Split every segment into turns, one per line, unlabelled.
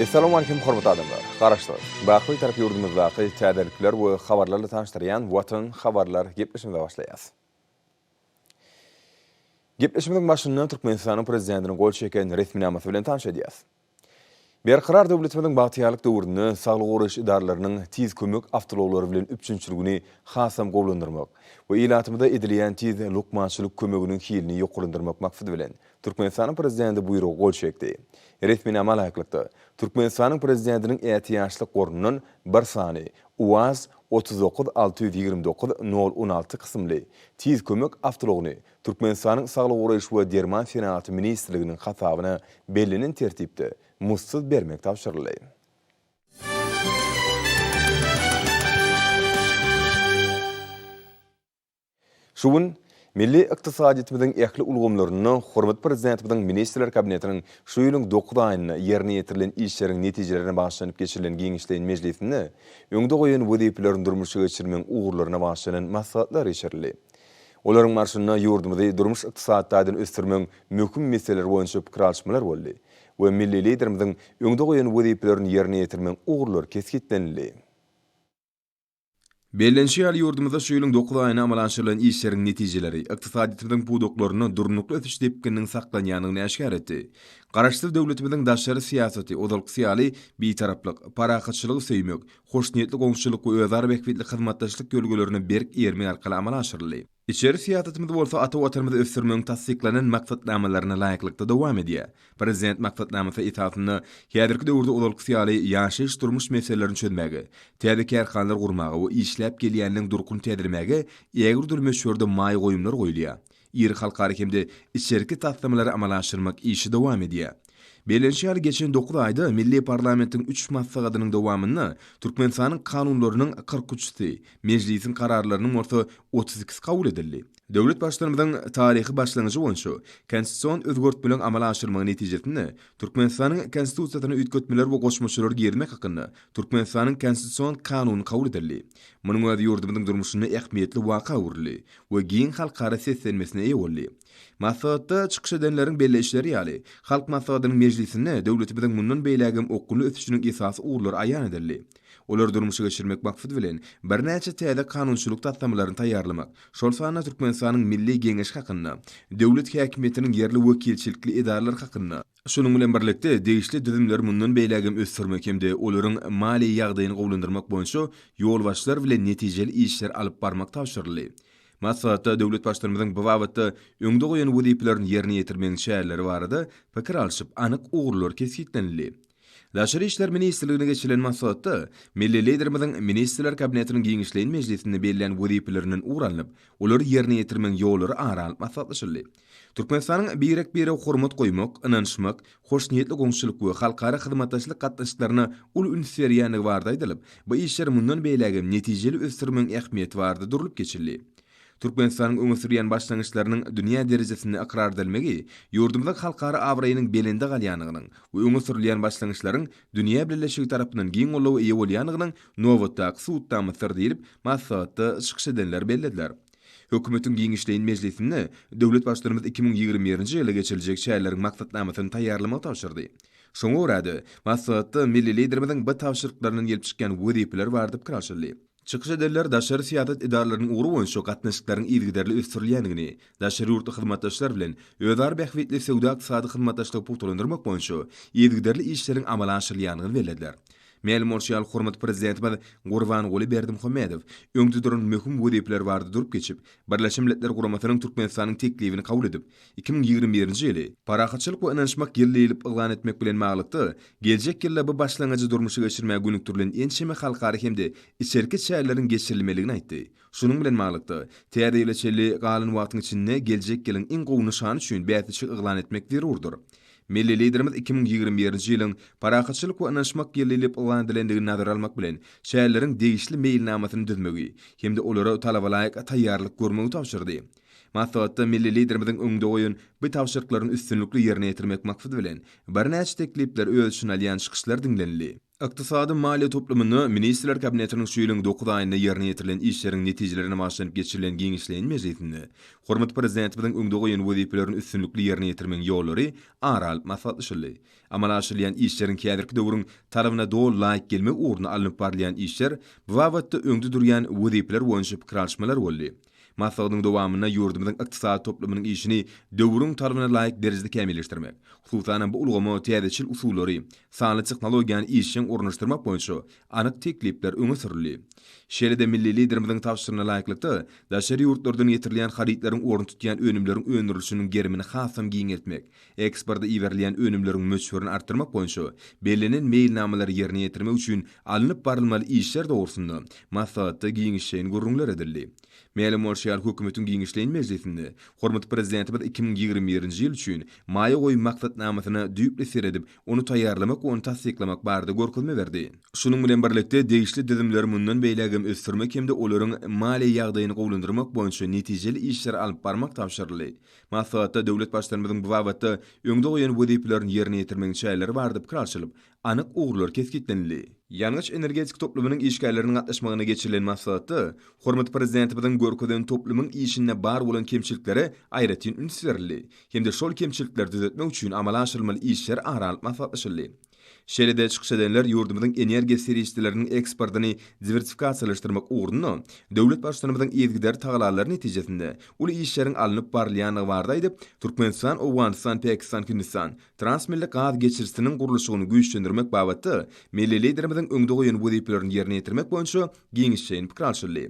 Essalamualeýkum hormatly adamlar! Garaşsyz, baky Bitarap ýurdumyzdaky täzelikler we habarlarla tanyşdyrýan Watan habarlar gepleşigimize başlaýas. Gepleşigimiziň başynda Türkmenistanyň Prezidentiniň gol çeken resminamasy bilen tanyş edýäs. Berkarar döwletimiziň bagtyýarlyk döwründe saglygy goraýyş edaralarynyň tiz kömek awtoulaglary bilen üpjünçiligini hasam gowulandyrmak we ilatymyza edilýän tiz lukmançylyk kömeginiň hilini ýokarlandyrmak maksady bilen, Türkmenistanyň Prezidenti buýruga gol çekdi. Resminama laýyklykda, Türkmenistanyň Prezidentiniň ätiýaçlyk gorundan bir sany UAZ otuz dokuz alty ýüz ýigrimi dokuz nol on alty kysymly Tiz kömek awtoulagyny Türkmenistanyň Saglygy goraýyş we derman senagaty ministrliginiň hasabyna bellenen tertipde muzdsuz bermek tabşyryldy. Şu gün milli ykdysadyýetimiziň ähli ulgamlarynda hormatly Prezidentimiziň Ministrler Kabinetiniň şu ýylyň dokuz aýynda ýerine ýetirilen işleriň netijelerine bagyşlanyp geçirilen giňişleýin mejlisinde öňde goýan wezipelerini durmuşa geçirmegiň ugurlaryna bagyşlanan maslahatlar geçirildi. Olaryň barşynda ýurdumyzy durmuş-ykdysady taýdan ösdürmegiň möhüm meseleleri boýunça pikir alyşmalar boldy we milli Liderimiziň öňde goýan wezipelerini ýerine ýetirmegiň ugurlary kesgitlenildi. Bellenişi ýaly, ýurdumyzda şu ýylyň dokuz aýynda amala aşyrylan işleriň netijeleri ykdysadyýetimiziň pudaklarynda durnukly ösüş depgininiň saklanýandygyny äşgär etdi. Garaşsyz döwletimiziň daşary syýasaty ozalkysy ýaly Bitaraplyk, parahatçylygy söýmek, hoşniýetli goňşuçylyk we özara bähbitli hyzmatdaşlyk ýörelgelerine berk eýermek arkaly amala aşyryldy. Içeri syýasatymyz bolsa ata Watanymyzy ösdürmegiň tassyklanan maksatnamalaryna laýyklykda dowam edýär. Prezident maksatnamasy esasynda häzirki döwürde ozalkysy ýaly ýaşaýyş-durmuş meselelerini çözmäge, täze kärhanalar gurmaga we işläp gelýäniniň durkuny täzelemäge ägirdür möçberde maýa goýumlar goýulýar. Iri halkara hem-de içerki taslamalary amala aşyrmak işi dowam edýär. Bellenişi ýaly, geçen dokuz aýda milli parlamentiň üç maslahatynyň dowamynda Türkmenistanyň kanunlarynyň kyrk üçüsi, Mejlisiň kararlarynyň bolsa otuz ikisi kabul edildi. Döwlet Baştutanymyzyň taryhy başlangyjy boýunça konstitusion özgertmeleri amala aşyrmagy netijesinde Türkmenistanyň Konstitusiýasyna üýtgetmeler we goşmaçalar girizmek hakynda Türkmenistanyň Konstitusion kanuny kabul edildi. Munuň özi ýurdumyzyň durmuşynda ähmiýetli waka öwrüldi we giň halkara seslenmesine eýe boldy. Maslahatda çykyş edenleriň belleýişleri ýaly, Halk Maslahatynyň mejlisinde döwletimiziň mundan beýlägem okgunly ösüşiniň esasy ugurlary aýan edildi. Olary durmuşa geçirmek maksady bilen, birnäçe täze kanunçylyk taslamalaryny taýýarlamak, şol sanda Türkmenistanyň Milli Geňeşi hakynda, döwlet häkimiýetiniň ýerli wekilçilikli edaralary hakynda, Şunuň bilen birlikde, degişli düzümleri mundan beýläk hem ösdürmek hem-de olaryň maliýe ýagdaýyny gowulandyrmak boýunça ýolbaşçylar bilen netijeli işleri alyp barmak tabşyryldy. Maslahatda döwlet Baştutanymyzyň bu babatda öňde goýan wezipelerini ýerine ýetirmegiň çäreleri barada pikir alşyp, anyk ugurlar kesgitlenildi. Daşary işler ministrligine geçirilen maslahatda milli Liderimiziň Ministrler Kabinetiniň giňişleýin mejlisinde bellän wezipelerinden ugur alnyp, olary ýerine ýetirmegiň ýollary ara alnyp maslahatlaşyldy. Türkmenistanyň birek-birege hormat goýmak, ynanyşmak, hoşniýetli goňşulyk we halkara hyzmatdaşlyk gatnaşyklaryna uly üns berýändigi barada aýdylyp, bu işleri mundan beýläk hem netijeli ösdürmegiň ähmiýeti barada durlup geçildi. Türkmenistanyň öňe sürýän başlangyçlarynyň dünýä derejesinde ykrar edilmegi ýurdumyzyň halkara abraýynyň belende galýandygynyň we öňe sürülýän başlangyçlaryň dünýä bileleşigi tarapyndan giň goldawa eýe bolýandygynyň nobatdaky subutnamasydyr diýlip, maslahatda çykyş edenler bellediler. Hökümetiň giňişleýin mejlisinde döwlet Baştutanymyz iki müň ýigrimi birinji ýylda geçiriljek çäreleriň maksatnamasyny taýýarlamagy tabşyrdy. Şoňa görä-de, maslahatda milli Liderimiziň bu tabşyryklaryndan gelip çykýan wezipeler barada pikir alşyldy. Çykyş edenler daşary syýasat edaralarynyň ugry boýunça gatnaşyklaryň yzygiderli ösdürilýändigini, daşary ýurtly hyzmatdaşlar bilen özara bähbitli söwda-ykdysady hyzmatdaşlygy pugtalandyrmak boýunça yzygiderli işleriň amala aşyrylýandygyny bellediler. Mälim bolşy ýaly, hormatly Prezidentimiz Gurbanguly Berdimuhamedow öňde duran möhüm wezipeler barada durup geçip, Birleşen Milletler Guramasynyň Türkmenistanyň teklibini kabul edip, iki müň ýigrimi birinji ýyly Parahatçylyk we ynanyşmak ýyly diýlip yglan etmek bilen baglylykda, geljek ýylda bu başlangyjy durmuşa geçirmäge gönükdirilen ençeme halkara hem-de içerki çäreleriň geçirilmelidigini aýtdy. Şunuň bilen baglylykda, Täze ýyla çenli galan wagtyň içinde geljek ýylyň iň gowy nyşany üçin bäsleşik yglan etmek zerurdyr. Milli Liderimiz iki müň ýigrimi birinji ýylyň Parahatçylyk we ynanyşmak ýyly diýlip yglan edilendigini nazara almak bilen, şäherleriň degişli meýilnamasyny düzmegi hem-de olara talabalaýyk taýýarlyk görmegi tabşyrdy. Maslahatda milli Liderimiziň öňde goýan bu tabşyryklaryny üstünlikli ýerine ýetirmek maksady bilen, birnäçe teklipleri öz içine alýan çykyşlar diňlenildi. Ykdysady maliýe toplumynda Ministrler Kabinetiniň şu ýylyň dokuz aýynda ýerine ýetirilen işleriň netijelerine bagyşlanyp geçirilen giňişleýin mejlisinde hormatly Prezidentimiziň öňde goýan wezipelerini üstünlikli ýerine ýetirmegiň ýollary ara alyp maslahatlaşyldy. Amala aşyrylýan işleriň häzirki döwrüň talabyna doly laýyk gelmegi ugrunda alnyp barylýan işler, bu babatda öňde durýan wezipeler boýunça pikir alyşmalar boldy. Maslahatyň dowamynda ýurdumyzyň ykdysady toplumynyň işini döwrüň talabyna laýyk derejede kämilleşdirmek, hususan-da, bu ulgama täzeçil usullary, sanly tehnologiýany işjeň ornaşdyrmak boýunça anyk teklipler öňe sürüldi. Şeýle-de milli Liderimiziň tabşyryna laýyklykda, daşary ýurtlardan getirilýän harytlaryň ornuny tutýan önümleriň öndürilişiniň gerimini hasam giňeltmek, Eksporta iberilýän önümleriň möçberini artdyrmak boýunça bellenen meýilnamalary ýerine ýetirmek üçin alnyp barylmaly işler dogrusynda maslahatda giňişleýin gürrüňler edildi. Mälim bolşy ýaly, Hökümetiň giňişleýin mejlisinde hormatly Prezidentimiz iki müň ýigrimi birinji ýyl üçin Maýa goýum maksatnamasyna düýpli seredip, ony taýýarlamak we ony tassyklamak barada görkezme berdi. Şunuň bilen birlikde, degişli düzümleri mundan beýläk hem ösdürmek hem-de olaryň maliýe ýagdaýyny gowulandyrmak boýunça netijeli işleri alyp barmak tabşyryldy. Maslahatda döwlet Baştutanymyzyň bu babatda öňde goýan wezipelerini ýerine ýetirmegiň çäreleri barada pikir alşylyp, anyk ugurlar kesgitlenildi. Ýangyç-energetika toplumynyň işgärleriniň gatnaşmagynda geçirilen maslahatda hormatly Prezidentimiziň görkezen toplumyň işinde bar bolan kemçiliklere aýratyn üns berildi hem-de şol kemçilikleri düzetmek üçin amala aşyrylmaly işler ara alyp maslahatlaşyldy. Şeýle-de çykyş edenler ýurdumyzyň energiýa serişdeleriniň eksportyny diwersifikasiýalaşdyrmak ugrunda döwlet Baştutanymyzyň yzygiderli tagallalary netijesinde uly işleriň alnyp barylýandygy barada aýdyp, Türkmenistan, Owganystan, Pakistan, Hindistan transmilli gaz geçirijisiniň gurluşygyny güýçlendirmek babatda milli Liderimiziň öňde goýan wezipelerini ýerine ýetirmek boýunça giňişleýin pikir alşyldy.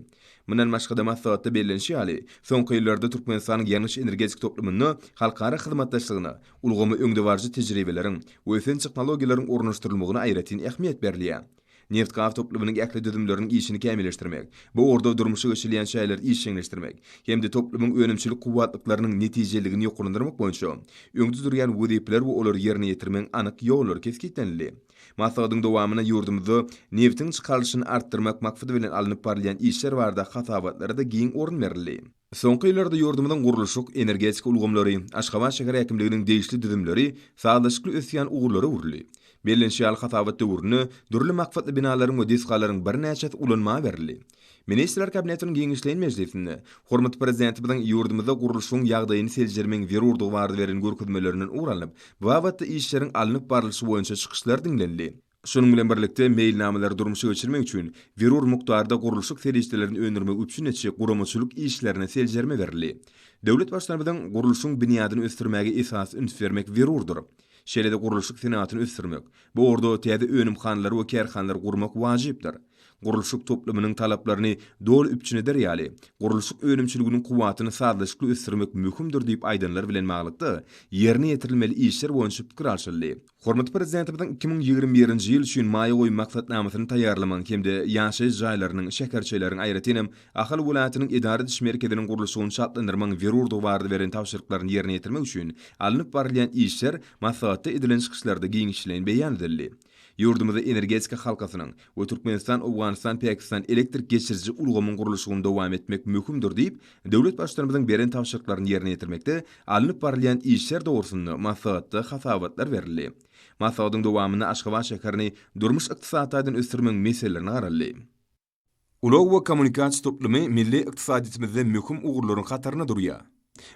Mundan başga-da, maslahatda bellenişi ýaly, soňky ýyllarda Türkmenistanyň ýangyç-energetik toplumynda halkara hyzmatdaşlygyna, ulgama öňdebaryjy tejribeleriň we ösen tehnologiýalaryň ornaşdyrylmagyna aýratyn ähmiýet berilýär. Neft-gaz toplumynyň ähli düzümleriniň işini kämilleşdirmek, bu ugurda durmuşa geçirilýän çäreleri işjeňleşdirmek hem-de toplumyň önümçilik kuwwatlyklarynyň netijeliligini ýokarlandyrmak boýunça öňde durýan wezipeler we olary ýerine ýetirmegiň anyk ýollary kesgitlenildi. Maslahatyň dowamynda ýurdumyzda nebtiň çykarylyşyny artdyrmak maksady bilen alnyp barylýan işler barada hasabatlara-da giň orun berildi. Soňky ýyllarda ýurdumyzyň gurluşyk, energetika ulgamlary, Aşgabat şäher häkimliginiň degişli düzümleri sazlaşykly ösýän ugurlar öwrüldi. Bellenişi ýaly, hasabat döwründe dürli maksatly binalaryň we desgalaryň birnäçesi ulanma berildi. Ministrler Kabinetiniň giňişleýin mejlisinde hormatly Prezidentimiziň ýurdumyzda gurluşygyň ýagdaýyny seljermegiň zerurdygy barada beren görkezmelerinden ugur alnyp, bu babatda işleriň alnyp barlyşy boýunça çykyşlar diňlenildi. Şunuň bilen birlikde, meýilnamalary durmuşa geçirmek üçin zerur mukdarda gurluşyk serişdelerini öndürmegi üpjün etjek guramaçylyk işlerine seljerme berildi. Döwlet Baştutanymyzyň, Gurluşygyň binýadyny ösdürmäge esasy üns bermek zerurdyr. Şeýle-de gurluşyk senagatyny ösdürmek, bu ugurda täze önümhanalary we kärhanalary gurmak wajypdyr. gurluşyk toplumynyň talaplaryny doly üpjün eder ýaly, gurluşyk önümçiliginiň kuwwatyny sazlaşykly ösdürmek möhümdir diýip aýdanlar bilen baglylykda, ýerine ýetirilmeli işler boýunça pikir alşyldy. Hormatly Prezidentimiziň iki müň ýigrimi birinji ýyl üçin maýa goýum maksatnamasyny taýýarlamagyň hem-de ýaşaýyş jaýlarynyň, şäherçeleriň, aýratyn hem, Ahal welaýatynyň edara ediş merkeziniň gurluşygyny çaltlandyrmagyň zerurdygy barada beren tabşyryklaryny ýerine ýetirmek üçin alnyp barylýan işler maslahatda edilen çykyşlarda giňişleýin beýan edildi. Ýurdumyzda energetika halkasynyň we Türkmenistan-Owganystan-Pakistan elektrik geçiriji ulgamyň gurluşygyny dowam etmek möhümdir diýip, döwlet Baştutanymyzyň beren tabşyryklaryny ýerine ýetirmekde alnyp barylýan işler dogrusynda maslahatda hasabatlar berildi. Maslahatyň dowamynda Aşgabat şäherini durmuş-ykdysady taýdan ösdürmegiň meselelerine garaldy. Ulag we kommunikasiýa toplumy milli ykdysadyýetimizde möhüm ugurlaryň hatarynda durýar.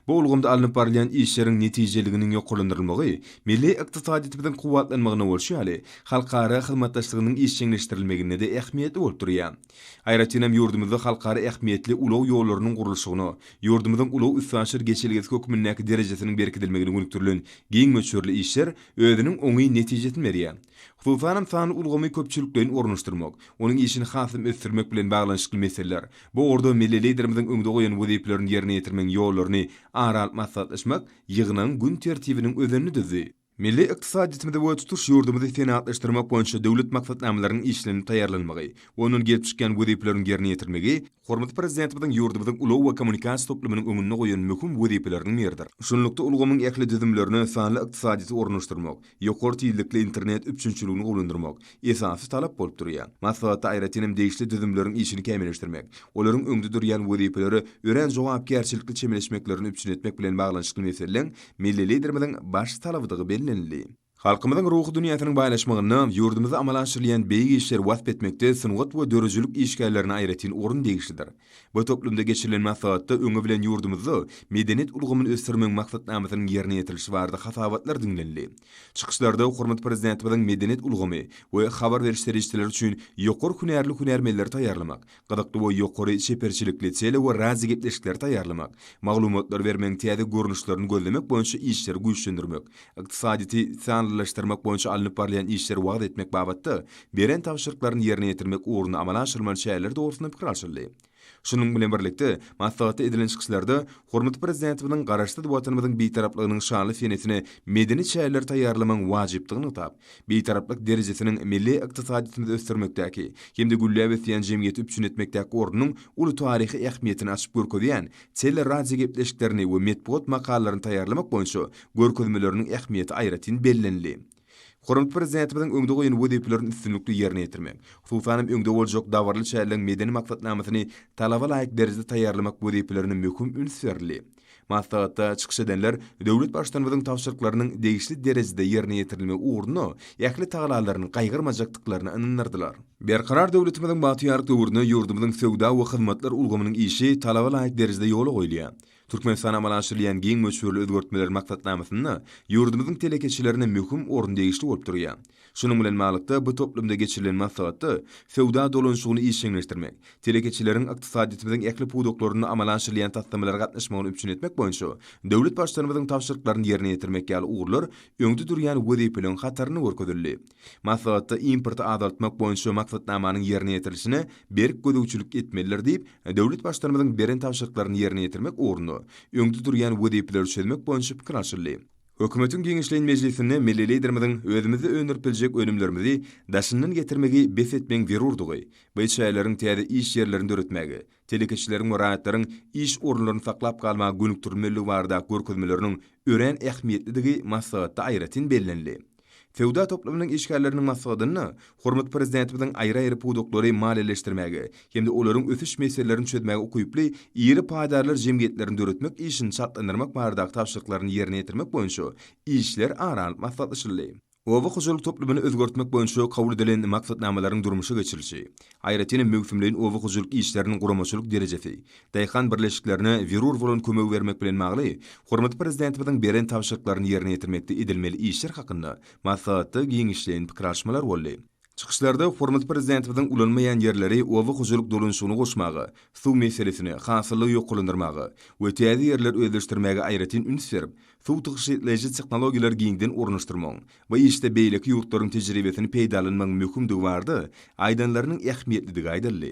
Bu ulgamda alnyp barylýan işleriň netijeliliginiň ýokarlandyrylmagy milli ykdysadyýetimiziň kuwwatlanmagyna bolşy ýaly, halkara hyzmatdaşlygynyň işjeňleşdirilmeginde-de ähmiýetli bolup durýar. Aýratyn hem ýurdumyzda halkara ähmiýetli ulag ýollarynyň gurluşygyna ýurdumyzyň ulag-üstaşyr geçelgesi hökmündäki derejesiniň berkidilmegine gönükdirilen giň möçberli işler özüniň oňyn netijesini berýär. Hususanam sanly ulgamy köpçülikleýin ornaşdyrmak, onuň işini hasam ösdürmek bilen baglanyşykly meseleler, bu ugurda milli Liderimiziň öňde goýan wezipelerini ýerine ýetirmegiň ýollaryny ara alyp maslahatlaşmak ýygnagyň gün tertibiniň özenini düzdi. Milli ykdysadyýetimizi we tutuş ýurdumyzy senagatlaşdyrmak boýunça döwlet maksatnamalarynyň işlenip taýýarlanmagy, ondan gelip çykýan wezipeleriň ýerine ýetirilmegi Hormatly Prezidentimiziň ýurdumyzyň ulag we kommunikasiýa toplumynyň öňünde goýan möhüm wezipeleriniň biridir. Şunlukda, ulgamyň ähli düzümlerine sanly ykdysadyýeti ornaşdyrmak, ýokary tizlikli internet üpjünçiligini gowulandyrmak esasy talap bolup durýar. Maslahatda aýratyn hem degişli düzümleriň işini kämilleşdirmek, olaryň öňde durýan wezipelere örän jogapkärçilikli çemeleşmeklerini üpjün etmek bilen baglanyşykly meseleleň milli Liderimiziň baş talabydygy bellenildi. Halkymyzyň ruhy dünýäsiniň baýlaşmagynda ýurdumyzda amala aşyrylýan beýik işleri wasp etmekde sungat we döredijilik işgärlerine aýratyn orun degişlidir. Bu toplumda geçirilen maslahatda öňi bilen ýurdumyzda medeniýet ulgamyny ösdürmegiň maksatnamasynyň ýerine ýetirilişi barada hasabatlar diňlenildi. Çykyşlarda hormatly Prezidentimiziň medeniýet ulgamy we habar beriş serişdeleri üçin ýokary hünärli hünärmenleri taýýarlamak, Gyzykly we ýokary çeperçilikli tele we radio gepleşikleri taýýarlamak, maglumatlary bermegiň täze görnüşlerini gözlemek boýunça işleri güýçlendirmek, ykdysadyýeti sanlylaşdyrmak boýunça alnyp barylýan işleri wagyz etmek babatda beren tabşyryklaryny ýerine ýetirmek ugrunda amala aşyrylmaly çäreler dogrusynda pikir alşyldy. Şunuň bilen birlikde, maslahatda edilen çykyşlarda Hormatly Prezidentimiziň Garaşsyz Watanymyzyň Bitaraplygynyň şanly senesine medeni çäreleri taýýarlamagyň wajypdygy nygtap, Bitaraplyk derejesiniň milli ykdysadyýetimizi ösdürmekdäki hem-de gülläp ösýän jemgyýeti üpjün etmekdäki ornunyň uly taryhy ähmiýetini açyp görkezýän tele-radiogepleşiklerini we metbugat makalalaryny taýýarlamak boýunça görkezmeleriniň ähmiýeti aýratyn bellenildi. Hormatly Prezidentimiziň öňde goýan wezipelerini üstünlikli ýerine ýetirmek, hususan hem öňde boljak dabaraly çäreleň medeni maksatnamasyny talaba laýyk derejede taýýarlamak wezipelerine möhüm üns berildi. Maslahatda çykyş edenler döwlet Baştutanymyzyň tabşyryklarynyň degişli derejede ýerine ýetirilmegi ugrunda ähli tagallalaryny gaýgyrmajakdyklaryna ynandyrdylar. Berkarar döwletimiziň bagtyýarlyk döwründe ýurdumyzyň söwda we hyzmatlar ulgamynyň işi talaba laýyk derejede ýola goýulýar. Türkmenistanda amala aşyrylýan giň möçberli özgertmeler maksatnamasynda ýurdumyzyň telekeçilerine möhüm orun degişli bolup durýar. Şunuň bilen baglykda, bu toplumda geçirilen maslahatda söwda dolanyşygyny işjeňleşdirmek, telekeçileriň ykdysadyýetimiziň ähli pudaklarynda amala aşyrylýan taslamalara gatnaşmagyny üpjün etmek boýunça döwlet Baştutanymyzyň tabşyryklaryny ýerine ýetirmek ýaly ugurlar öňde durýan wezipeleriň hatarynda görkezildi. Maslahatda importy azaltmak boýunça maksatnamanyň ýerine ýetirilişine berk gözegçilik etmelidir diýip, döwlet Baştutanymyzyň beren tabşyryklaryny ýerine ýetirmek ugrunda öňde durýan wezipeleri çözmek boýunça pikir alşyldy. Hökümetiň giňişleýin mejlisinde milli Liderimiziň özümizde öndürip biljek önümlerimizi daşyndan getirmegi bes etmegiň zerurdygy we çäýleriň täze iş ýerlerini döretmäge, telekeçileriň we raýatlaryň iş orunlaryny saklap galmaga gönükdirilmeligi barada görkezmeleriniň örän ähmiýetlidigi maslahatda aýratyn bellenildi. Söwda toplumynyň işgärleriniň maslahatynda hormatly Prezidentimiziň aýry-aýry pudaklary maliýeleşdirmäge hem-de olaryň ösüş meselelerini çözmäge ukyply iri paýdarlar jemgyýetlerini döretmek işini çaltlandyrmak baradaky tabşyryklaryny ýerine ýetirmek boýunça işler ara alnyp maslahatlaşyldy. Oba hojalyk toplumyny özgertmek boýunça kabul edilen maksatnamalaryň durmuşa geçirilişi, aýratyn hem möwsümleýin oba hojalyk işleriniň guramaçylyk derejesi, daýhan birleşiklerine zerur bolan kömegi bermek bilen bagly hormatly Prezidentimiziň beren tabşyryklaryny ýerine ýetirmekde edilmeli işler hakynda maslahatda giňişleýin pikir alyşmalar boldy. Çykyşlarda hormatly Prezidentimiziň ulanmaýan ýerleri oba hojalyk dolanyşygyna goşmaga, suw meselesine, hasyllygy ýokarlandyrmaga we täze ýerler özleşdirmäge aýratyn üns berip, suw tygşytlaýjy tehnologiýalary giňden ornaşdyrmagyň bu işde beýleki ýurtlaryň tejribesini peýdalanmagyň möhümdigi barada aýdanlarynyň ähmiýetlidigi aýdyldy.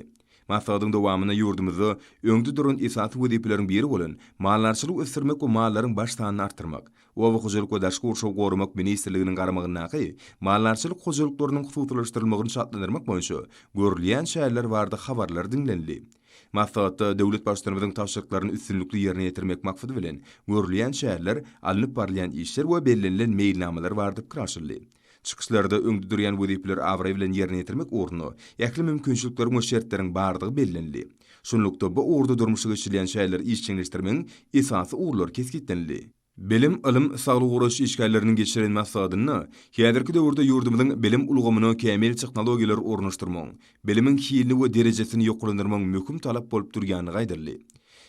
Maslahatyň dowamynda ýurdumyzda öňde duran esasy wezipeleriň biri bolan maldarçylygy ösdürmek we mallaryň baş sanyny artdyrmak, Oba hojalyk we daşky gurşawy goramak ministrliginiň garamagyndaky maldarçylyk hojalyklarynyň hususylaşdyrylmagyny çaltlandyrmak boýunça görülýän çäreler barada habarlar diňlenildi. Maslahatda döwlet Baştutanymyzyň tabşyryklaryny üstünlikli ýerine ýetirmek maksady bilen görülýän çäreler, alnyp barylýan işler we bellenilen meýilnamalar barada pikir alşyldy. Çykyşlarda öňde durýan wezipeleri abraý bilen ýerine ýetirmek ugrunda ähli mümkinçilikleriň we şertleriň bardygy bellenildi. Şunlukda, bu ugurda durmuşa geçirilýän çäreleri işjeňleşdirmegiň esasy ugurlary kesgitlenildi. Bilim, ylym, saglygy goraýyş işgärleriniň geçiren maslahatynda häzirki döwürde ýurdumyzyň bilim ulgamyna kämil tehnologiýalary ornaşdyrmagyň, bilimiň hilini we derejesini ýokarlandyrmagyň möhüm talap bolup durýandygy aýdyldy.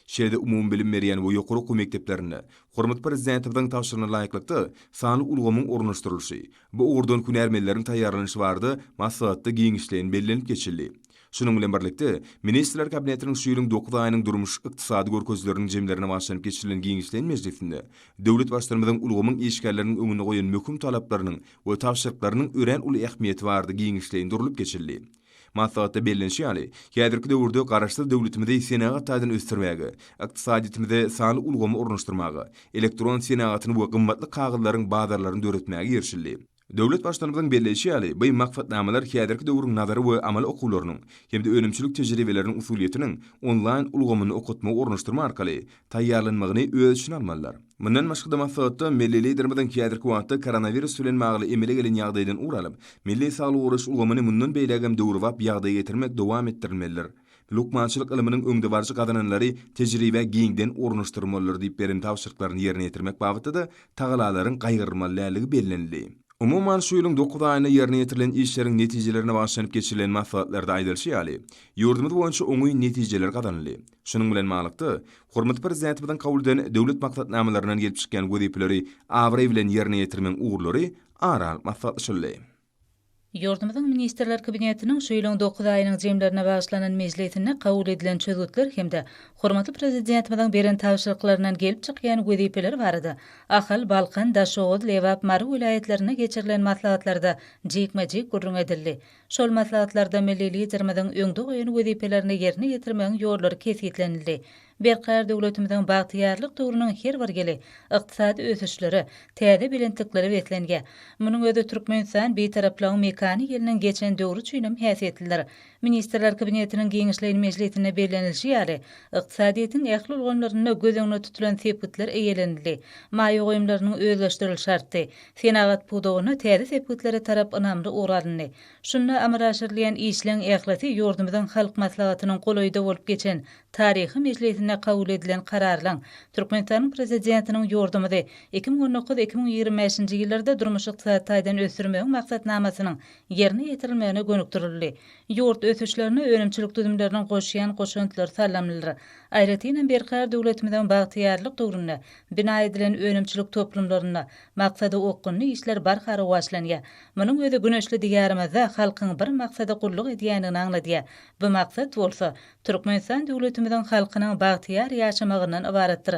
Şeýle-de umumybilim berýän we ýokary okuw mekdeplerinde Hormatly Prezidentimiziň tabşyrygyna laýyklykda, sanly ulgamyň ornaşdyrylyşy, bu ugurdan hünärmenleriň taýýarlanyşy barada maslahatda giňişleýin bellenilip geçildi. Şunuň bilen birlikde, Ministrler Kabinetiniň şu ýylyň dokuz aýynyň durmuş-ykdysady görkezileriniň jemlerine bagyşlanyp geçirilen giňişleýin mejlisinde döwlet Baştutanymyzyň ulgamyň işgärleriniň öňünde goýan möhüm talaplarynyň we tabşyryklarynyň örän uly ähmiýeti barada giňişleýin durlup geçildi. Maslahatda bellenişi ýaly, häzirki döwürde Garaşsyz döwletimizi senagat taýdan ösdürmäge, ykdysadyýetimize sanly ulgamy ornaşdyrmaga, elektron senagatyny we gymmatly kagyzlaryň bazarlaryny döretmäge girişildi. Döwlet Baştutanymyzyň belleýşi ýaly, bu maksatnamalar häzirki döwrüň nazary we amaly okuwlarynyň hem-de önümçilik tejribeleriniň usulyýetiniň onlaýn ulgamynda okatmagy ornaşdyrma arkaly taýýarlanmagyny öz içine almalydyr. Mundan başga-da maslahatda milli Liderimiziň häzirki wagtda koronawirus bilen bagly emele gelen ýagdaýdan ugur alyp, milli saglygy goraýyş ulgamyny mundan beýlägem döwrebap ýagdaýa getirmek dowam etdirilmelidir. Lukmançylyk ylmynyň öňdebaryjy gazananlary tejribä giňden ornaşdyrmalydyr diýip beren tabşyryklaryny ýerine ýetirmek babatda-da tagalalaryň gaýgyrylmaly däldigi bellenildi. Umuman, şu ýylyň dokuz aýynda ýerine ýetirilen işleriň netijelerine bagyşlanyp geçirilen maslahatlarda aýdylyşy ýaly, ýurdumyz boýunça oňyn netijeler gazanyldy. Şunuň bilen baglylykda, hormatly Prezidentimiziň kabul eden döwlet maksatnamalaryndan gelip çykýan wezipeleri abraý bilen ýerine ýetirmegiň ugurlary ara alyp maslahatlaşyldy.
Ýurdumyzyň Ministrler Kabinetiniň şu ýylyň dokuz aýynyň jemlerine bagyşlanan mejlisinde kabul edilen çözgütler hem-de hormatly Prezidentimiziň beren tabşyryklaryndan gelip çykýan wezipeler barada Ahal, Balkan, Daşoguz, Lebap, Mary welaýatlarynda geçirilen maslahatlarda jikme-jik gürrüň edildi. Şol maslahatlarda milli Liderimiziň öňde goýan wezipelerini ýerine ýetirmegiň ýollary kesgitlenildi. Berkarar döwletimiziň bagtyýarlyk döwrüniň her bir ýyly ykdysady ösüşlere, täze belentliklere beslenge. Munuň özi Türkmenistan Bitaraplygyň mekany ýylynyň geçen döwri üçin hem häsiýetlidir. Ministrler Kabinetiniň giňişleýin mejlisinde bellenilişi ýaly, ykdysadyýetiň ähli ulgamlarynda göz öňünde tutulan sepgitler eýelenildi, maýa goýumlarynyň özleşdirilişi artdy, Senagat pudagynda täze sepgitlere tarap ynamly ugur alyndy. Şunda amala aşyrylýan işleň ählisi ýurdumyzyň Halk Maslahatynyň golaýda bolup geçen taryhy mejlisinde kabul edilen kararlaryň, Türkmenistanyň Prezidentiniň ýurdumyzy iki müň on dokuz, iki müň ýigrimi bäşinji ýyllarda durmuş-ykdysady taýdan ösdürmegiň maksatnamasynyň ýerine ýetirilmegine gönükdirildi. Ýurt ösüşlerine önümçilik düzümleriniň goşýan goşantlary salymlydyr. Aýratynam berkarar döwletimiziň bagtyýarlyk döwründe Bina edilen önümçilik toplumlarynda maksada okgunly işler barha rowaçlanýar. Munuň özi güneşli Diýarymyzda halkyň bir maksada gulluk edýändigini aňladýar. Bu maksat bolsa, Türkmenistan döwletimiziň halkynyň bagtyýar ýaşamagyndan ybaratdyr.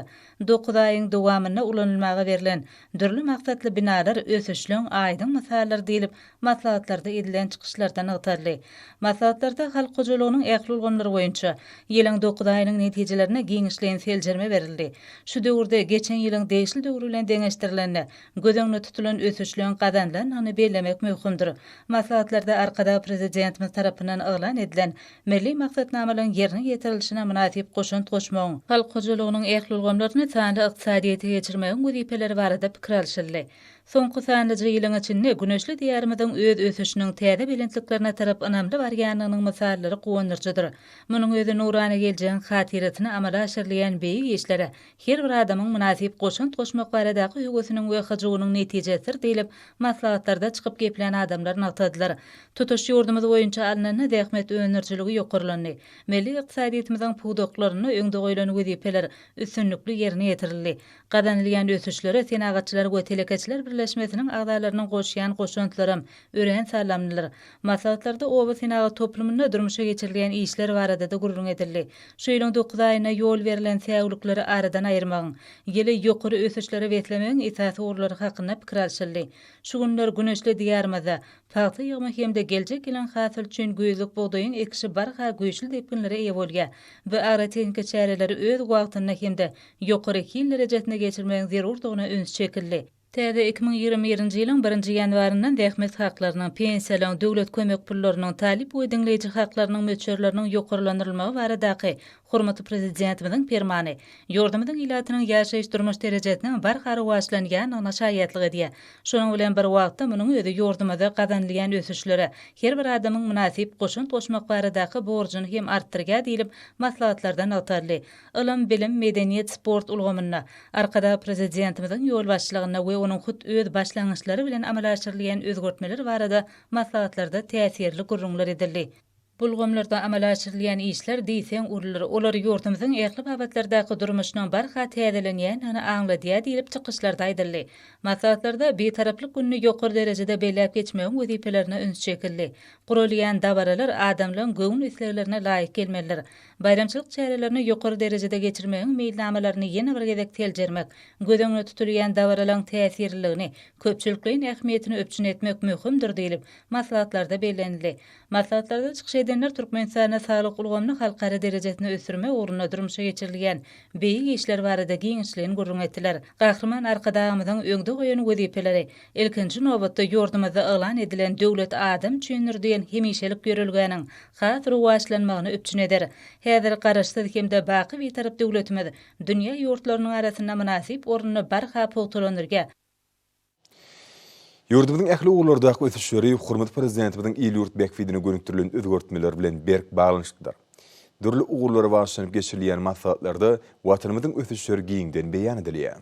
Dokuz aýyň dowamynda ulanylmaga berlen dürli maksatly binalar ösüşliň aýdyň mysallar diýlip Maslahatlarda edilen çykyşlarda nygtaldy. Maslahatlarda halk hojalygynyň ähli ulgamlary boýunça ýylyň dokuz aýynyň netijelerine giňişleýin seljerme berildi. Şu döwürde geçen ýylyň degişli döwür bilen deňeşdirilende, göz öňünde tutulan ösüşleriň gazanylandygyny bellemek möhümdir. Maslahatlarda Arkadag Prezidentimiz tarapyndan yglan edilen Milli maksatnamalaryň ýerine ýetirilişine mynasyp goşant goşmagyň, halk hojalygynyň ähli ulgamlaryny sanly ykdysadyýete geçirmegiň wezipeleri barada pikir alşyldy. Soňky sanlyja ýylyň içinde güneşli Diýarymyzyň öz ösüşiniň täze belentliklerine tarap ynamly barýandygynyň mysallary guwandyryjydyr. Munuň özi nurana geljegiň hatyrasyna amala aşyrylýan beýik işlere her bir adamyň mynasyp goşant goşmak baradaky höwesiniň we hyjuwynyň netijesidir diýlip, maslahatlarda çykyp geplän adamlar nygtadylar. Tutuş ýurdumyz boýunça alnanda zähmet öndürijiligi ýokarlandy. Milli ykdysadyýetimiziň pudaklarynda öňde goýlan wezipeler üstünlikli ýerine ýetirildi. Gazanylýan ösüşlere Senagatçylar we telekeçiler birleşmesiniň agzalarynyň goşýan goşantlaram örän salymlydyr. Maslahatlarda oba senagat toplumynda durmuşa geçirilýän işler barada-da gürrüň edildi. Şu ýylyň dokuz aýynda ýol berlen säwlikleri aradan aýyrmagyň, ýyly ýokary ösüşlere beslemegiň esasy ugurlary hakynda pikir alşyldy. Şu günler güneşli Diýarymyzda pagta ýygymy hem-de geljek ýylyň hasyly üçin güýzlük bugdaýyň ekişi barha güýçli depginlere eýe bolýar we agrotehnika çäreleri öz wagtynda hem-de ýokary hil derejesinde geçirmegiň zerurdygyna üns çekildi. Täze iki müň ýigrimi birinji ýylyň birinji ýanwaryndan zähmet haklarynyň, pensiýalaryň, döwlet kömek pullarynyň, talyp we diňleýji haklarynyň möçberleriniň ýokarlandyrylmagy baradaky hormatly Prezidentimiziň Permany ýurdumyzyň ilatynyň ýaşaýyş-durmuş derejesiniň barha rowaçlanýandygyna şaýatlyk edýär. Şonuň bilen bir wagtda, munuň özi ýurdumyzda gazanylýan ösüşlere her bir adamyň mynasyp goşant goşmak baradaky borjuny hem artdyrýar diýlip, maslahatlarda nygtaldy. Ylym, bilim, medeniýet, sport ulgamynda Arkadag Prezidentimiziň ýolbaşçylygynda we onuň hut öz başlangyçlary bilen amala aşyrylýan özgertmeler barada maslahatlarda täsirli gürrüňler edildi. Bu ulgamlarda amala aşyrylýan işler diýseň ulydyr, olar ýurdumyzyň ähli babatlardaky durmuşynyň barha täzelenýändigini aňladýar diýlip, çykyşlarda aýdyldy. Maslahatlarda Bitaraplyk gününi ýokary derejede belläp geçmegiň wezipelerine üns çekildi. Guralýan dabaralar adamlaryň göwün isleglerine laýyk gelmelidir. Baýramçylyk çärelerini ýokary derejede geçirmegiň meýilnamalaryny ýene bir gezek seljermek, göz öňünde tutulýan dabaralaryň täsirliligini, köpçülikleýin ähmiýetini üpjün etmek möhümdir diýlip, maslahatlarda bellenildi. Maslahatlarda çykyş edenler Türkmenistanda saglyk ulgamyny halkara derejesinde ösdürmek ugrunda durmuşa geçirilýän beýik işler barada giňişleýin gürrüň etdiler. Gahryman Arkadagymyzyň öňde goýan wezipeleri, ilkinji nobatda, ýurdumyzda yglan edilen Döwlet adam üçindir! diýen hemişelik ýörelgäniň has rowaçlanmagyny üpjün eder. Häzir Garaşsyz hem-de baky Bitarap döwletimiz dünýä ýurtlarynyň arasynda mynasyp ornuny barha pugtalandyrýa.
Ýurdumyzyň ähli ugurlardaky ösüşleri hormatly Prezidentimiziň il-ýurt bähbidine gönükdirilen özgertmeler bilen berk baglanyşyklydyr. Dürli ugurlara bagyşlanyp geçirilýän maslahatlarda Watanymyzyň ösüşleri giňden beýan edilýär.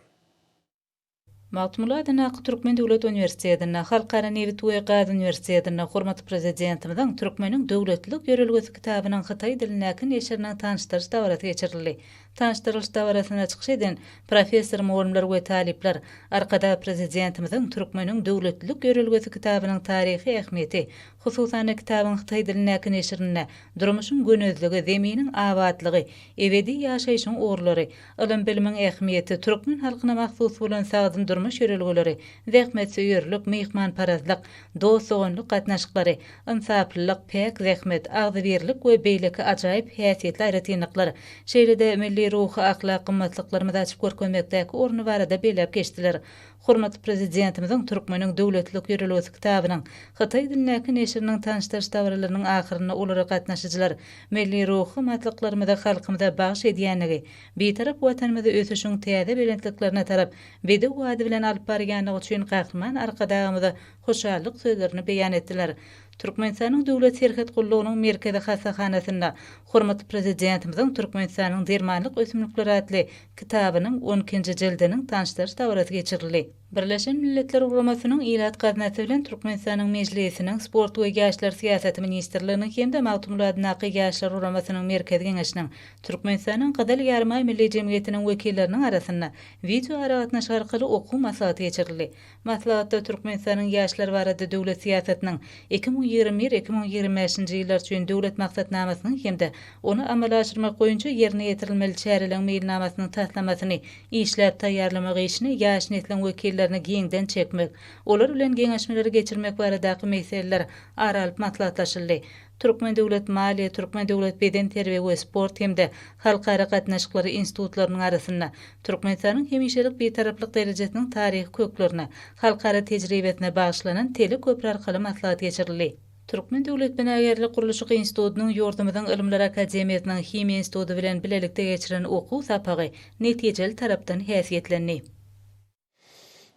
Magtymguly
adyndaky Türkmen döwlet uniwersitetinde, Halkara nebit we gaz uniwersitetinde hormatly Prezidentimiziň Türkmeniň döwletlilik ýörelgesi kitabynyň hytaý dilindäki neşiriniň tanyşdyryş dabarasy geçirildi. Tanyşdyrylyş dabarasynda çykyş eden professor, mugallymlar we talyplar Arkadag Prezidentimiziň Türkmeniň döwletlilik ýörelgesi kitabynyň taryhy ähmiýeti, hususan-da, kitabyň hytaý dilindäki neşirinde durmuşyň gönezligi, zeminiň abatlygy, ebedi ýaşaýşyň ugurlary, Ylym-bilimiň ähmiýeti, türkmen halkyna mahsus bolan sagdyn durmuş ýörelgeleri, zähmetsöýerlik, myhmanparazlyk, dost-doganlyk gatnaşyklary, ynsaplylyk, päk zähmet, agzybirlik we beýleki ajaýyp häsiýetli aýratynlyklar, şeýle-de milli ruhy-ahlak gymmatlyklarymyzy açyp görkezmekdäki orny barada belläp geçdiler. Hormatly Prezidentimiziň Türkmeniň döwletlilik ýörelgesi kitabynyň hytaý dilindäki neşiriniň tanyşdyryş dabaralarynyň ahyrynda olara gatnaşyjylar milli ruhy matlyklarymyzy halkymyza bagyş edýändigi, Bitarap Watanymyzy ösüşiň täze belentliklerine tarap bedew ady bilen alyp barýandygy üçin Gahryman Arkadagymyza hoşallyk sözlerini beýan etdiler. Türkmenistanyň Döwlet serhet gullugynyň Merkezi hassahanasynda hormatly Prezidentimiziň Türkmenistanyň dermanlyk ösümlikleri atly kitabynyň on ikinji jildiniň tanyşdyryş dabarasy geçirildi. Birleşen Milletler Guramasynyň Ilat gaznasy bilen Türkmenistanyň Mejlisiniň Sport we ýaşlar syýasaty ministrliginiň hem-de Magtymguladyndaky Ýaşlar guramasynyň Merkezi geňeşiniň, Türkmenistanyň Gyzyl Ýarymaý Milli jemgyýetiniň wekilleriniň arasynda wideoaragatnaşyk arkaly okuw maslahaty geçirildi. Maslahatda Türkmenistanyň ýaşlar barada döwlet syýasatynyň, iki müň ýigrimi bir, iki müň ýigrimi bäşinji ýyllar üçin Döwlet maksatnamasynyň hem-de ony amala aşyrmak boýunça ýerine ýetirilmeli çäreleň meýilnamasynyň taslamasyny işläp taýýarlamak işine ýaş nesliň wekillerini giňden çekmek, olar bilen geňeşmeleri geçirmek baradaky meseleler ara alyp maslahatlaşyldy. Türkmen döwlet maliýe, Türkmen döwlet bedenterbiýe we sport hem-de Halkara gatnaşyklary institutlarynyň arasynda Türkmenistanyň hemişelik Bitaraplyk derejesiniň taryhy köklerine, halkara tejribesine bagyşlanan teleköpri arkaly maslahat geçirildi. Türkmen döwlet binagärlik-gurluşyk institutynyň ýurdumyzyň Ylymlar akademiýasynyň Himiýa instituty bilen bilelikde geçiren okuw sapagy netijeli tarapdan häsiýetlendi.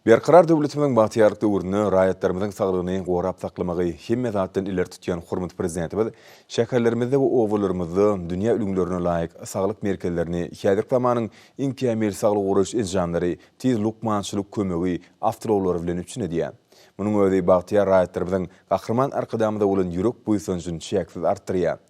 Berkarar döwletimiziň bagtyýarlyk döwründe raýatlarymyzyň saglygyny gorap saklamagy hemme zatdan ileri tutýan hormatly Prezidentimiz şäherlerimizde we obalarymyzda dünýä ülňülerine laýyk saglyk merkezlerini, häzirki zamanyň iň kämil saglygy goraýyş enjamlary, tiz lukmançylyk kömegi awtoulaglary bilen üpjün edýär. Munuň özi bagtyýar raýatlarymyzyň Gahryman Arkadagymyza bolan ýürek buýsanjyny çäksiz artdyrýar.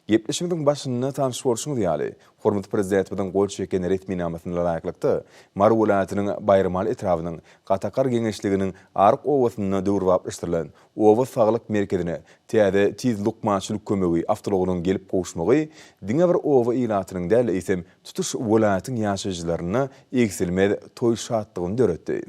Gepleşigimiziň başynda tanyş bolşuňyz ýaly, Hormatly Prezidentimiziň gol çeken resminamasyna laýyklykda, Mary welaýatynyň Baýramaly etrabynyň Gatakar geňeşliginiň Aryk obasynda döwrebaplaşdyrylan Oba saglyk merkezine täze Tiz lukmançylyk kömegi awtoulagynyň gelip gowuşmagy diňe bir oba ilatynyň däl, eýsem, tutuş welaýatyň ýaşaýjylarynda egsilmez toý şatlygyny döretdi.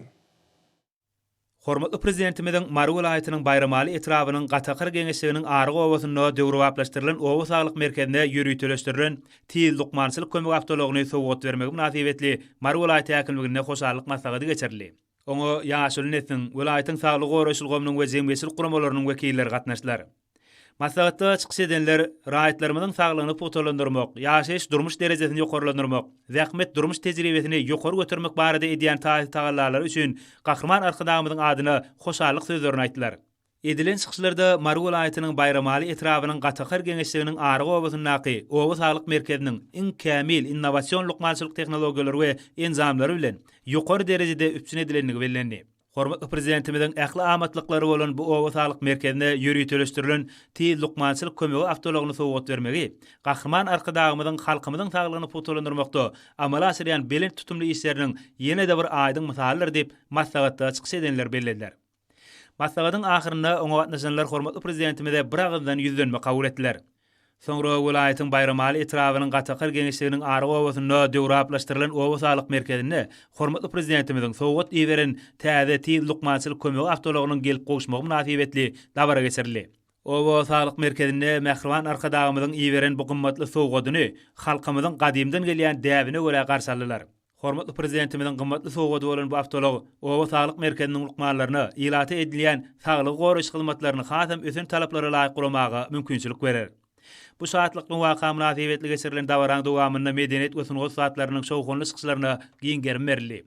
Hormatly
Prezidentimiziň Mary welaýatynyň Baýramaly etrabynyň Gatakar geňeşliginiň Aryk obasynda döwrebaplaşdyrylan oba saglyk merkezine ýöriteleşdirilen Tiz lukmançylyk kömegi awtoulagyny sowgat bermegi mynasybetli Mary welaýat häkimliginde hoşallyk maslahaty geçirildi. Oňa ýaşuly nesliň, welaýatyň saglygy goraýyş ulgamynyň we jemgyýetçilik guramalarynyň wekilleri gatnaşdylar. Maslahatda çykyş edenler raýatlarymyzyň saglygyny pugtalandyrmak, ýaşaýyş-durmuş derejesini ýokarlandyrmak, zähmet, durmuş tejribesini ýokary götermek barada edýän taýy-tagallalary üçin Gahryman Arkadagymyzyň adyna hoşallyk sözlerini aýtdylar. Edilen çykyşlarda Mary welaýatynyň Baýramaly etrabynyň Gatakar geňeşliginiň Aryk obasyndaky Oba saglyk merkeziniň iň kämil innowasion lukmançylyk tehnologiýalary we enjamlary bilen ýokary derejede üpjün edilendigi bellendi. Hormatly Prezidentimiziň ähli amatlyklary bolan bu oba saglyk merkezine ýöriteleşdirilen Tiz lukmançylyk kömegi awtoulagyny sowgat bermegi Gahryman Arkadagymyzyň halkymyzyň saglygyny pugtalandyrmakda amala aşyrýan belent tutumly işleriniň ýene-de bir aýdyň mysalydyr diýip, maslahatda çykyş edenler bellediler. Maslahatyň ahyrynda oňa gatnaşanlar hormatly Prezidentimize biragyzdan ýüzlenme kabul etdiler. Soňra welaýatyň Baýramaly etrabynyň Gatakar geňeşliginiň Aryk obasynda döwraplaşdyrylan Oba saglyk merkezinde hormatly Prezidentimiziň sowgat iberen täze Tiz lukmançylyk kömegi awtoulagynyň gelip gowuşmagy mynasybetli dabara geçirildi. Oba saglyk merkezinde mähriban Arkadagymyzyň iberen bu gymmatly sowgadyny halkymyzyň gadymdan gelýän däbine görä garşy aldylar. Hormatly Prezidentimiziň gymmatly sowgady bolan bu awtoulag Oba saglyk merkeziniň lukmanlaryna ilata edilýän saglygy goraýyş hyzmatlaryny hasam ösen talaplara laýyk guramaga mümkinçilik berer. Bu şatlykly waka mynasybetli geçirilen dabaraň dowamynda medeniýet we sungat zatlarynyň şowhunly çykyşlaryna giň gerim berildi.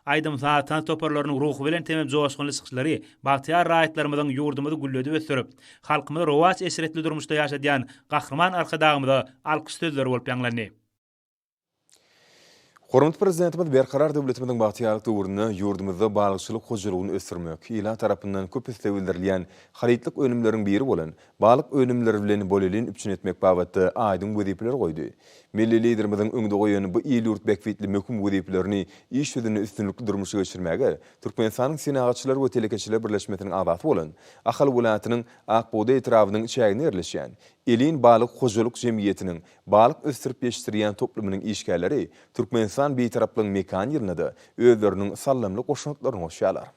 Aýdym-saz, tans toparlarynyň ruhubelent hemem joşgunly çykyşlary bagtyýar raýatlarymyzyň ýurdumyzy gülledip ösdürip, halkymyzy rowaç-eşretli durmuşda ýaşadýan Gahryman Arkadagymyza alkyş sözleri bolup ýaňlandy. Hormatly
Prezidentimiz Berkarar döwletimiziň bagtyýarlyk döwründe ýurdumyzda balykçylyk hojalygyny ösdürmek, ilat tarapyndan köp isleg bildirilýän harytlyk önümleriň biri bolan balyk önümleri bilen bolelin üpjün etmek babatda aýdyň wezipeler goýdy. Milli Liderimiziň öňde goýan bu il-ýurt bähbitli möhüm wezipelerini iş ýüzünde üstünlikli durmuşa geçirmäge Türkmenistanyň Senagatçylar we telekeçiler birleşmesiniň agzasy bolan Ahal welaýatynyň Akbugdaý etrabynyň çäginde ýerleşýän Elin balyk hojalyk jemgyýetiniň Balyk ösdürip ýetişdirýän toplumynyň işgärleri Türkmenistan Bitaraplygyň mekan ýylynda-da özleriniň saldamly goşantlaryny goşýarlar.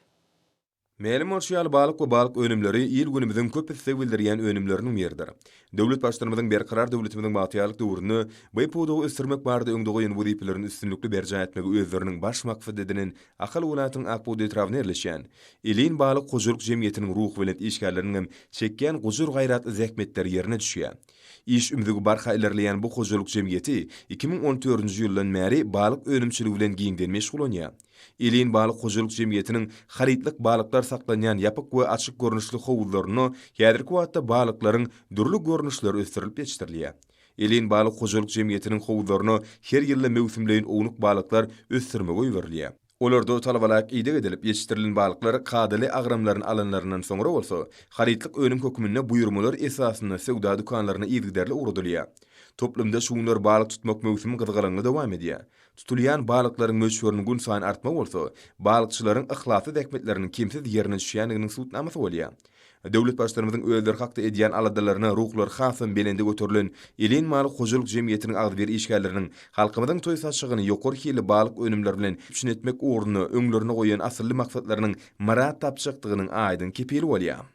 Mälim bolşy ýaly, balyk we balyk önümleri il-günümiziň köp isleg bildirýän önümleriniň biridir. Döwlet Baştutanymyzyň Berkarar döwletimiziň bagtyýarlyk döwründe bu pudagy ösdürmek barada öňde goýan wezipelerini üstünlikli berjaý etmegi özleriniň baş maksat edinen Ahal welaýatynyň Akbudda etrabynda ýerleşýän Ilin balyk hojalyk jemgyýetiniň ruhubelent işgärleriniňem çekýän gujur-gaýratly zähmetleri ýerine düşýär. Iş ümzügi barha ilerleýän bu hojalyk jemgyýeti iki müň on dördünji ýyldan bäri balyk önümçiligi bilen giňden meşgullanýar. Elin balyk hojalyk jemgyýetiniň harytlyk balyklar saklanýan ýapyk we açyk görnüşli howuzlarynda häzirki wagtda balyklaryň dürli görnüşleri ösdürilip ýetişdirilýär. Elin balyk hojalyk jemgyýetiniň howuzlaryna her ýylda möwsümleýin ownuk balyklar ösdürmege iberilýär. Olarda talabalaýyk ideg edilip ýetişdirilen balyklar kadaly agramlaryny alanlaryndan soňra bolsa, harytlyk önüm hökmünde buýurmalar esasynda söwda dükanlaryna yzygiderli ugradylýar. Toplumda şu günler balyk tutmak möwsümi gyzgalaňly dowam edýär. Tutulýan balyklaryň möçberiniň gün saýyn artmagy bolsa, balykçylaryň yhlasly zähmetleriniň kemsiz ýerine düşýändiginiň subutnamasy bolýar. Döwlet Baştutanymyzyň özleri hakda edýän aladalaryna ruhlary hasam belende göterilen Elen maly hojalyk jemgyýetiniň agzybir işgärleriniň halkymyzyň toý saçagyny ýokary hilli balyk önümleri bilen üpjün etmek ugrunda öňlerine goýan asylly maksatlarynyň myrat tapjakdygynyň aýdyň kepili bolýar.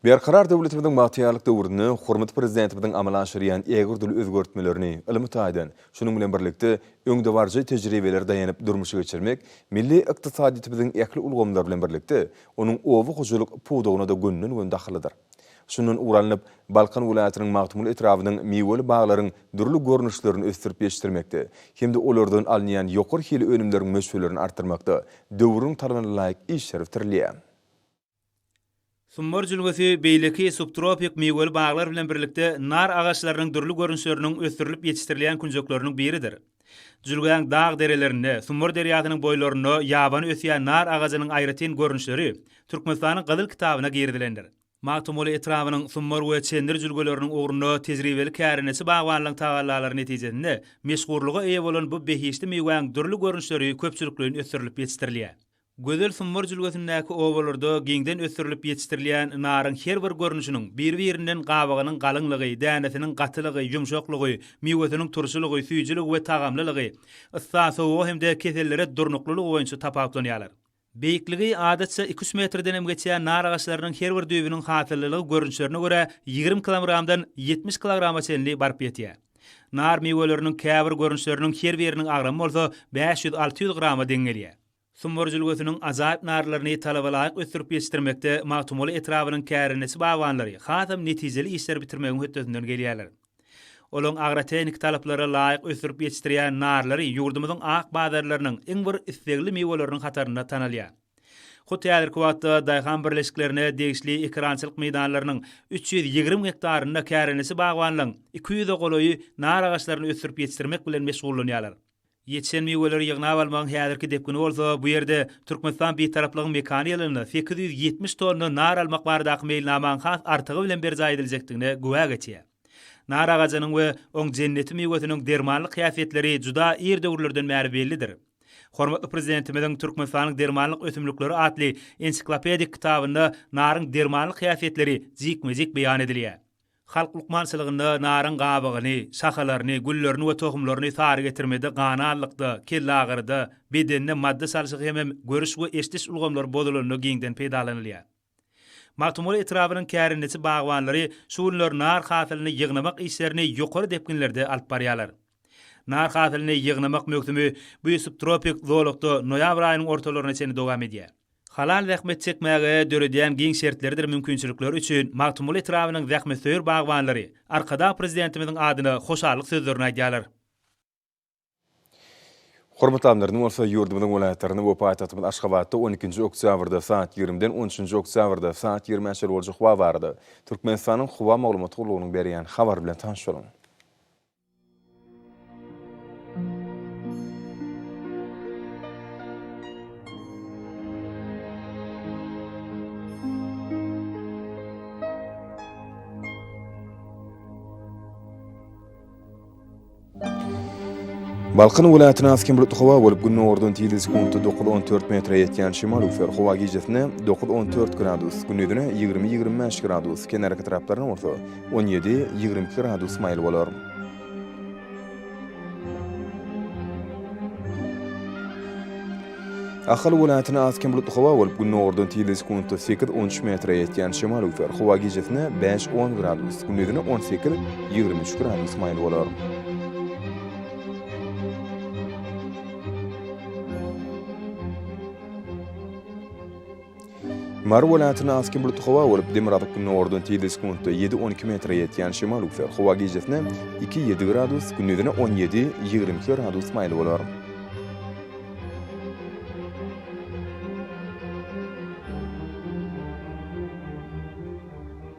Berkarar döwletimiziň bagtyýarlyk döwründe hormatly Prezidentimiziň amala aşyrýan ägirdürli özgertmelerini ylmy taýdan, şunuň bilen birlikde, öňdebaryjy tejribelere daýanyp durmuşa geçirmek milli ykdysadyýetimiziň ähli ulgamlary bilen birlikde, onuň oba hojalyk pudagyna-da gönden-göni dahyllydyr. Şundan ugur alnyp, Balkan welaýatynyň Magtymguly etrabynyň miweli baglaryň dürli görnüşlerini ösdürip ýetişdirmekde hem-de olardan alynýan ýokary hili önümleriň möçberlerini artdyrmakda döwrüň talabyna laýyk işler bitirilýär. Summar
jülgesi beýleki subtropik miweli baglar bilen birlikde nar agaçlarynyň dürli görnüşleriniň ösdürilip ýetişdirilýän künjekleriniň biridir. Jülgäň dag derelerinde, Sumbar derýasynyň boýlarynda ýabany ösýän nar agajynyň aýratyn görnüşleri Türkmenistanyň Gyzyl kitabyna girizilendir. Magtymguly etrabynyň Sumbar we Çendir jülgeleriniň ugrunda tejribeli kärendeçi bagbanlaryň tagallalary netijesinde meşhurlyga eýe bolan bu behişdi miwäň dürli görnüşleri köpçülikleýin ösdürilip ýetişdirilýär. Gözel Sumbur jülgesindäki obalarda giňden ösdürilip ýetişdirilýän naryň her bir görnüşiniň bir-birinden gabygynyň galyňlygy, dänesiniň gatylygy, ýumşaklygy, miwesiniň turşulygy, süýjüligi we tagamlylygy, yssa, sowuga hem-de kesellere durnuklylygy boýunça tapawutlanýarlar. Beýikligi, adatça, iki-üç metrdenem geçýän nar agaçlarynyň her bir düýbüniň hasyllylygy görnüşlerine görä ýigrimi kilomgramdan ýetmiş kilograma çenli baryp ýetýär. Nar miweleriniň käbir görnüşleriniň her biriniň agramy bolsa bäş ýüz-alty ýüz grama deň gelýär. Sumbur jülgesiniň ajaýyp narlaryny talabalaýyk ösdürip ýetişdirmekde Magtymguly etrabynyň kärendeçi bagbanlary hasam netijeli işleri bitirmegiň hötdesinden gelýärler. Olaryň agrotehniki talaplara laýyk ösdürip ýetişdirýän narlary ýurdumyzyň ak bazarlarynyň iň bir islegli miweleriniň hatarynda tanalýar. Hut häzirki wagtda daýhan birleşiklerine degişli ekerançylyk meýdanlarynyň üç ýüz ýigrimi gektarynda kärendeçi bagbanlaryň iki ýüze golaýy nar agaçlaryny ösdürip ýetişdirmek bilen meşgullanýarlar. Ýetişen miweleri ýygnap almagyň häzirki depgini bolsa bu ýerde Türkmenistan Bitaraplygyň mekany ýylynda sekiz ýüz ýetmiş tonna nar almak baradaky meýilnamaň has artygy bilen berjaý ediljekdigine güwä geçýär. Nar agajynyň we oň jenneti miwesiniň dermanlyk häsiýetleri juda ir döwürlerden bäri bellidir. Hormatly Prezidentimiziň Türkmenistanyň dermanlyk ösümlikleri atly ensiklopedik kitabynda naryň dermanlyk häsiýetleri jikme-jik beýan edilýär. Halk lukmançylygynda naryň gabygyny, şahalaryny, güllerini we tohumlaryny sary getirmede, gananlykda, kellagyryda, bedende madda çalşygy hemem görüş we eşdiş ulgamlary bozulanda giňden peýdalanylýar. Magtymguly etrabynyň kärendeçi bagbanlary şu günler nar hasylyny ýygnamak işlerini ýokary depginlerde alyp barýarlar. Nar hasylyny ýygnamak möwsümi bu subtropik zolakda noýabr aýynyň ortalaryna çenli dowam edýär. Halal zähmet çekmäge döredýän giň şertleridir mümkinçilikleri üçin Magtymguly etrabynyň zähmetsöýer bagbanlary Arkadag Prezidentimiziň adyna hoşallyk sözlerini aýdýarlar.
Hormatly amyrym bolsa ýurdumyzyň welaýatlarynda we paýtagtymyz Aşgabatda on ikinji oktýabrda saat ýigrimiden on üçünji oktýabrda saat ýigrimi çenli boljak howa barada Türkmenistanyň Howa maglumat gullugynyň berýän habary bilen tanyş boluň. Balkan welaýatynda az-kem bulutly howa bolup, gündogardan tizligi sekuntda dokuz on dört metre ýetýän şemal üflär. Howa gijesi güni güni ýigrimi ýigrimi bäş gradus, kenarki taraplaryna bolsa, On ýedi, ýigrimi iki gradus maýyl bolar. Ahal welaýatynda az-kem bulutly howa bolup, gündogardan tizligi sekuntda sekiz, on üç metre ýetýän şemal öwser. Howa gijesine bäş, on gradus, gündizine on sekiz, ýigrimi üç gradus maýyl bolar. Mary welaýatyna aski bulutly howa bolup, demirgazyk gündogardan tizligi sekuntda ýedi, on iki metre ýetýän şemal üwser. Howa gijesine iki, ýedi gradus, gündizine on ýedi, ýigrimi iki gradus maýyl bolar.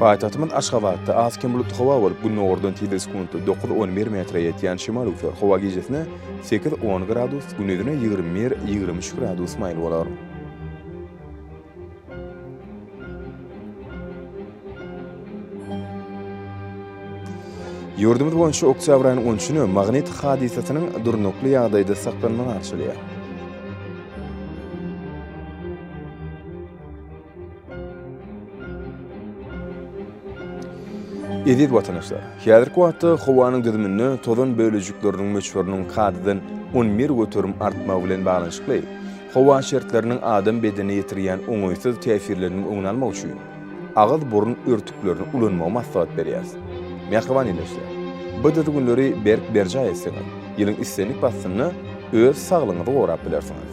Paýtagtymyz Aşgabatda az kem bulutly howa bolup, gündogardan tizligi sekuntda dokuz, on bir metre ýetýän şemal öwser. Howa gijesine sekiz, on gradus, gündizine ýigrimi bir, ýigrimi üç gradus maýyl bolar. Ýurdumyz boýunça oktýabr aýynyň on üçüni magnit hadysasynyň durnukly ýagdaýda saklanmagy garşylaýar. Eziz watandaşlar, häzirki wagtda howanyň düzüminde tozan bölejikleriniň möçberiniň kadadan on bir göterim artmagy bilen baglanyşykly, Howa şertleriniň adam bedenine ýetirýän oňaýsyz täsirleriniň öňüni almak üçin agyz-burun örtüklerini ulanmagy maslahat berýäris. Mähriban ýöneşje. Bu düzgünleri berk berjaý etseňiz, ýylyň islendik paslynda öz saglygyňyzy gorap bilersiňiz.